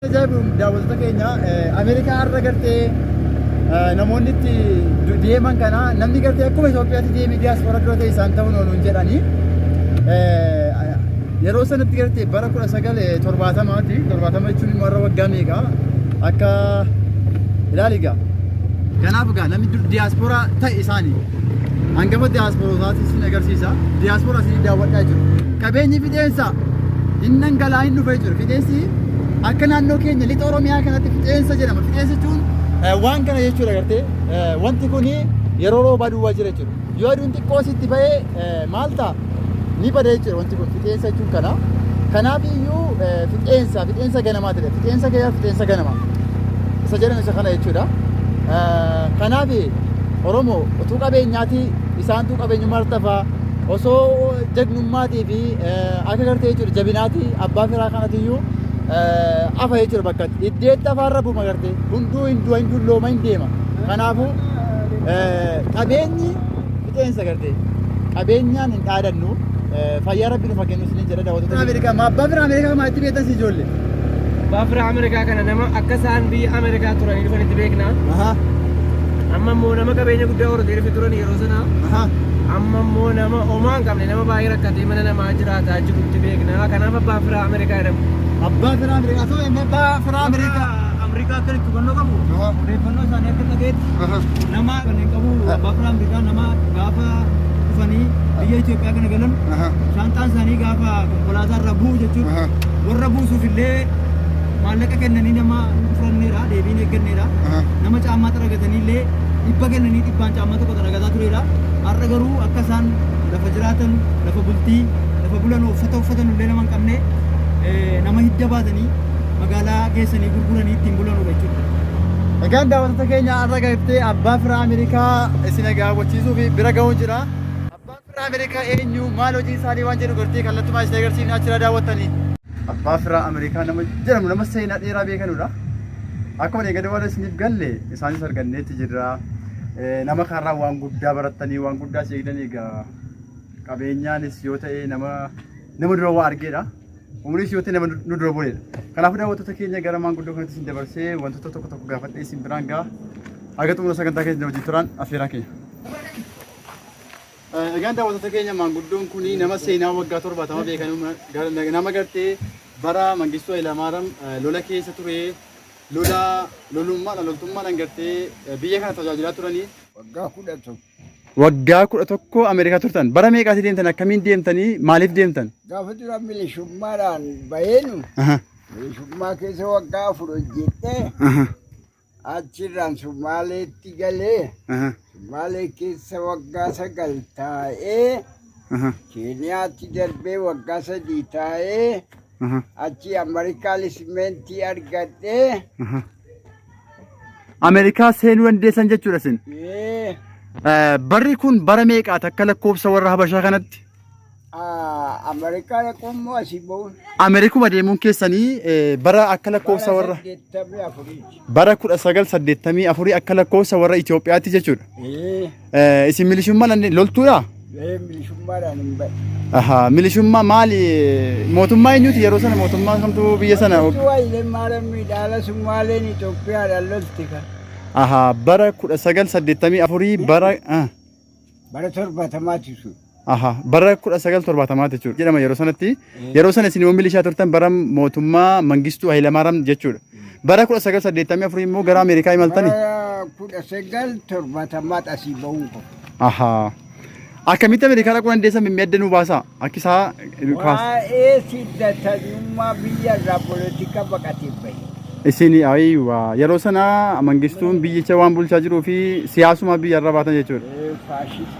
Ajaa'ibuun daawwattoota keenya Ameerikaa har'a gartee namoonni itti deeman kana namni gartee akkuma Itoophiyaatti deemee diyaaspoora dura ta'e isaan ta'uun ooluun jedhanii yeroo sanatti gartee bara kudha sagal torbaatamaati torbaatama jechuun immoo har'a waggaa meeqa akka ilaali egaa kanaaf egaa namni diyaaspoora ta'e isaanii Hangafa diyaaspoorootaati isin agarsiisa. Diyaaspooraa isin daawwadhaa jiru. Qabeenyi fixeensa hin dhangala'aa hin dhufee jiru. Fixeensi akka naannoo keenya lixa Oromiyaa kanatti fixeensa jedhama. Fixeensa jechuun waan kana jechuudha gartee wanti kun yeroo roobaa duwwaa jira jechuudha. Yoo aduun xiqqoo sitti ba'ee maal ta'a? ni bada jechuudha wanti kun fixeensa jechuun kana. Kanaaf iyyuu eh, fixeensa fixeensa ganamaa ta'e fixeensa gaya fixeensa ganamaa isa jedhan isa kana jechuudha. Eh, Kanaaf Oromoo utuu qabeenyaati isaantu qabeenyummaa irratti hafa osoo jagnummaatii fi eh, akka gartee jechuudha jabinaati abbaa firaa kanatu iyyuu eh, hafa jechuudha bakka itti. iddeetti afaarra buma gartee hunduu hin du'a hin dullooma hin deema. Kanaafuu eh, qabeenyi Fixeensa gartee qabeenyaan hin dhaadannu fayyaa rabbi nufa kennu isinin jedha daawwattoota Ameerikaa ma abbaa fira Ameerikaa ma itti beektan si ijoollee. Baafira Ameerikaa kana nama akka isaan biyya Ameerikaa turanii dhufan itti beekna. Aha Amma immoo nama qabeenya guddaa horatee dhufe turan yeroo sana. aha Amma immoo nama homaa hin qabne nama baay'ee rakkatee mana namaa jiraataa jiru itti beekna. Kanaaf abbaan firaa Ameerikaa jedhamu. abbaa fira Ameerikaa soo abbaa fira Ameerikaa. Riqaa akka itti hubannoo qabu odeeffannoo isaanii akka dhagayetti nama kan hin qabu abbaa biraan bitaa nama gaafa dhufanii biyya Itoophiyaa kana galan shaanxaan isaanii gaafa konkolaataa irraa bu'u jechuudha. Warra buusuuf illee maallaqa kennanii nama fudhanneera deebiin eegganneera. Nama caammaa xaragatanii illee dhibba kennanii dhibbaan caammaa tokko xaragataa tureera. Har'a garuu akka isaan lafa jiraatan lafa bultii lafa bulan uffata uffatan illee nama hin qabne nama hidda baatanii magaalaa geessanii gurguranii ittiin bulanudha jechuudha. Egaan daawwattoota keenya har'a gartee abbaa firaa Ameerikaa isin agaawwachiisuu fi bira ga'uun jira. Abbaan firaa Ameerikaa eenyu maal hojii isaanii waan jedhu gartee kallattumaa isin agarsiifne achirraa daawwattanii. Abbaa firaa Ameerikaa nama jedhamu nama seenaa dheeraa beekanudha. Akkuma eegade warra isiniif galle isaanis arganneetti jirra. Nama kanarraa waan guddaa barattanii waan guddaa seegdan egaa qabeenyaanis yoo ta'e nama nama dura waa argeedha. Umriin si yootee nama nu dura bu'eedha. Kanaafuu daawwattoota keenya gara maanguddoo kanatti isin dabarsee wantoota tokko tokko gaafadhee isin biraan ga'a. Haga xumura sagantaa keenya wajjin turaan affeeraa keenya. Egaan daawwattoota keenya maanguddoon kun nama seenaa waggaa torbaatama beekan nama gartee bara Mangistuu Hayilamaariyaam lola keessa ture lola lolummaadhaan loltummaadhaan gartee biyya kana tajaajilaa turanii waggaa kudha tokko Waggaa kudha tokko Ameerikaa turtan. Bara meeqaati deemtan? Akkamiin deemtanii? Maaliif deemtan? Gaafa dura milishummaadhaan baheenu Aha, milishummaa keessa waggaa afur hojjettee aha, achirraan Sumaaleetti galee aha, Sumaalee keessa waggaa sagal taa'ee aha, Keeniyaatti darbee waggaa sadii taa'ee aha, achii Ameerikaa lisimentii argadhee aha. Ameerikaa seenuu dandeessan jechuudha isin. Ee, Eh, Barri kun bara meeqaati akka lakkoofsa warra Habashaa kanatti? aa, Ameerikaa dhaquun moo asii ba'uun? Ameerikuma deemuun keessanii eh, bara akka lakkoofsa warra Saddeettamii afuriiti. bara 1984 akka lakkoofsa warra Itoophiyaatti jechuudha. Ee. Eh, Isin milishummaan loltuudha? Ee milishummaadhaan hin ba'e. Aha, milishummaa maali? Mootummaa eenyuti yeroo sana mootummaa kamtu biyya sana? Utuu wayilee maalaan miidhaala summaaleen Itoophiyaadhaan lolti kan. Aha, bara 1984 bara ah, Bara torbaatamaati sun. Aha, bara 1970 jechuudha. Jedhama yeroo sanatti. Yeroo sana isin immoo milishaa turtan bara mootummaa Mangistuu Hayilamaaraam jechuudha. Bara 1984 immoo gara Ameerikaa imaltani. Bara kudha sagal torbaatamaa asii ba'uun kun. Aha. Akkamitti Ameerikaa dhaquu dandeessan mimmii adda nu baasaa? Akki isaa kaas. Waa'ee siddatanyummaa biyya irraa polotika baqatee bahe. Isin ayiwa yeroo sana Mangistuun biyyicha waan bulchaa jiruu fi siyaasuma biyya irra baatan jechuudha. Faashistii.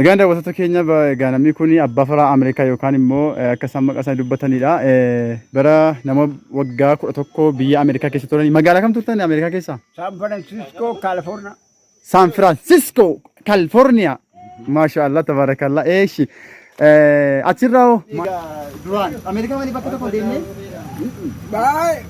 Egaan daawwattoota keenya egaa namni kun abbaa faraa Ameerikaa yookaan immoo akka isaan maqaa isaanii dubbatanidha. Bara nama waggaa kudha tokko biyya Ameerikaa keessa turan. Magaalaa kam turtan Ameerikaa keessa? San Francisco, California. San Francisco, California. Maasha Allah tabarakallah. Eeshi. Achirraa hoo? Duraan Ameerikaa malee bakka tokko deemnee? Baay'ee.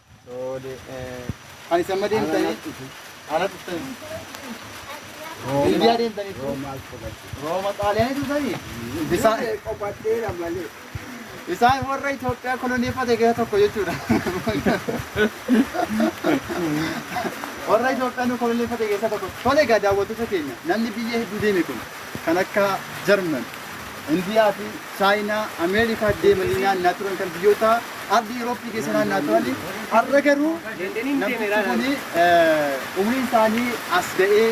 Kan isin amma deemtanii ala dhuftanii. Indiyaa deemtanii turu. Rooma xaaliyaanii turtanii. Isaan Qophaadheera malee. isaan warra Itoophiyaa koloneeffate gara tokko jechuudha. Warra Itoophiyaa nu koloneeffate keessaa tokko. Tole egaa daawwattoota keenya namni biyya hedduu deeme kun kan akka Jarman, Indiyaa fi Chaayinaa Ameerikaatti deemanii naannaa turan kan biyyoota ardii Yurooppii keessa naannaa turan har'a garuu namtichi kun umriin isaanii as ga'ee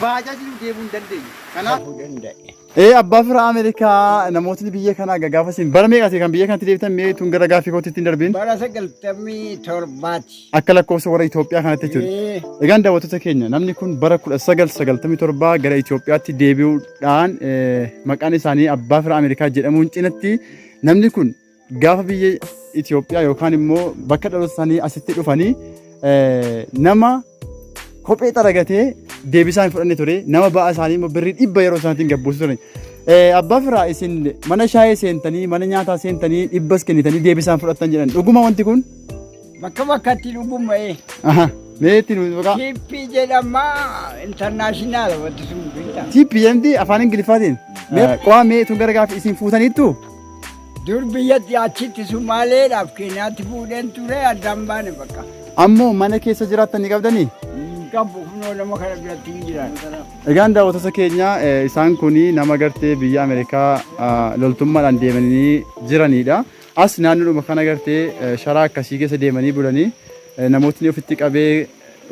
baajaajiin deemuu hin dandeenye. Kanaaf ta'uu danda'e. Ee abbaa fira Ameerikaa namootni biyya kanaa gagaafa isin bara meeqati kan biyya kanatti deebitan mee tun gara gaaffii kootti ittiin darbiin. Bara sagaltamii torbaati. Akka lakkoofsa warra Itoophiyaa kanatti jechuudha. Egaan daawwattoota keenya namni kun bara 1997 gara Itoophiyaatti deebi'uudhaan eh, maqaan isaanii Abbaa Firaa Ameerikaa jedhamuun cinatti namni kun gaafa biyya Itoophiyaa yookaan immoo bakka dhaloota isaanii asitti dhufanii eh, nama kophee xaragatee deebisaan fudhanne ture nama ba'a isaanii immoo birrii dhibba yeroo isaatiin gabbuusu ture. Eh, Abbaa Firaa isin mana shaayee seentanii mana nyaataa seentanii dhibbas kennitanii deebisaan fudhattan jedhan dhuguma wanti kun Bakka bakkatti dhugumma'ee. Aha. Meetti nuti maqaa. Tippii jedhama intarnaashinaala wanti sun beektaa. Tippii jedhamti afaan Ingiliffaatiin. Qo'aa mee tun gara gaaffii isin fuutaniittu. Dur biyyatti achitti Sumaaleedhaaf Keeniyaatti fuudheen ture addaan baane bakka. Ammoo mana keessa jiraattan ni qabdanii? Qabbu kunoo nama kana biratti hin jiran. Egaan daawwattoota keenya isaan kun nama gartee biyya Ameerikaa loltummaadhaan deemanii jiranidha. As naannoodhuma kana gartee sharaa akkasii keessa deemanii bulanii namootni ofitti qabee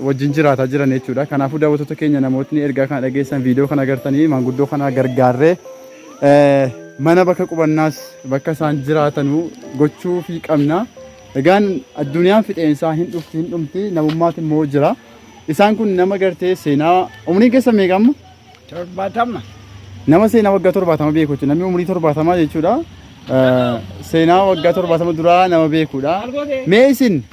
wajjin jiraataa jiran jechuudha. Kanaafuu daawwattoota keenya namootni ergaa kana dhageessan viidiyoo kana agartanii maanguddoo kana gargaarree mana bakka qubannaas bakka isaan jiraatanuu gochuu fi qabna. Egaan addunyaan fixeensaa hin dhufti hin dhumti namummaati immoo jira. Isaan kun nama gartee seenaa umriin keessa meeqa amma? torbaatama. Nama seenaa waggaa torbaatama beeku jechuudha. Namni umurii torbaatamaa jechuudha. Seenaa waggaa torbaatama duraa nama beekudha. Mee isin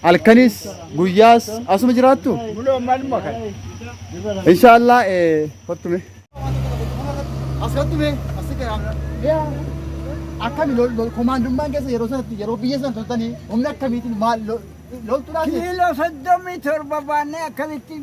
halkanis guyyaas asuma jiraattu? Buloo maluma kan. Inshaallah fattume. Asirratti asi garaa. Akkami komaandummaan keessa yeroo sanatti yeroo biyya sana turtanii humna akkamiitiin maal loltuudhaas? Kiiloo soddomii torba baannee akkamittiin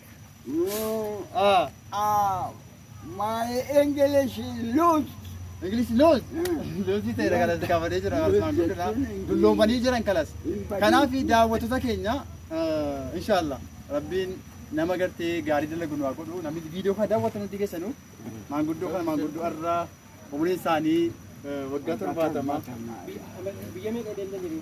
Ah. Ah, my English is loose. English loose. Loose ta'e kanas kaafamee jira Usmaan Gudina. Dulloomanii jiran kanas. Kanaaf daawwattoota keenya inshaallah rabbiin nama gartee gaarii dalagu nu haa godhu namni viidiyoo kana daawwatan hundi keessanu maanguddoo kana maanguddoo irraa umriin isaanii waggaa torbaatama. Biyya meeqa deemtanii?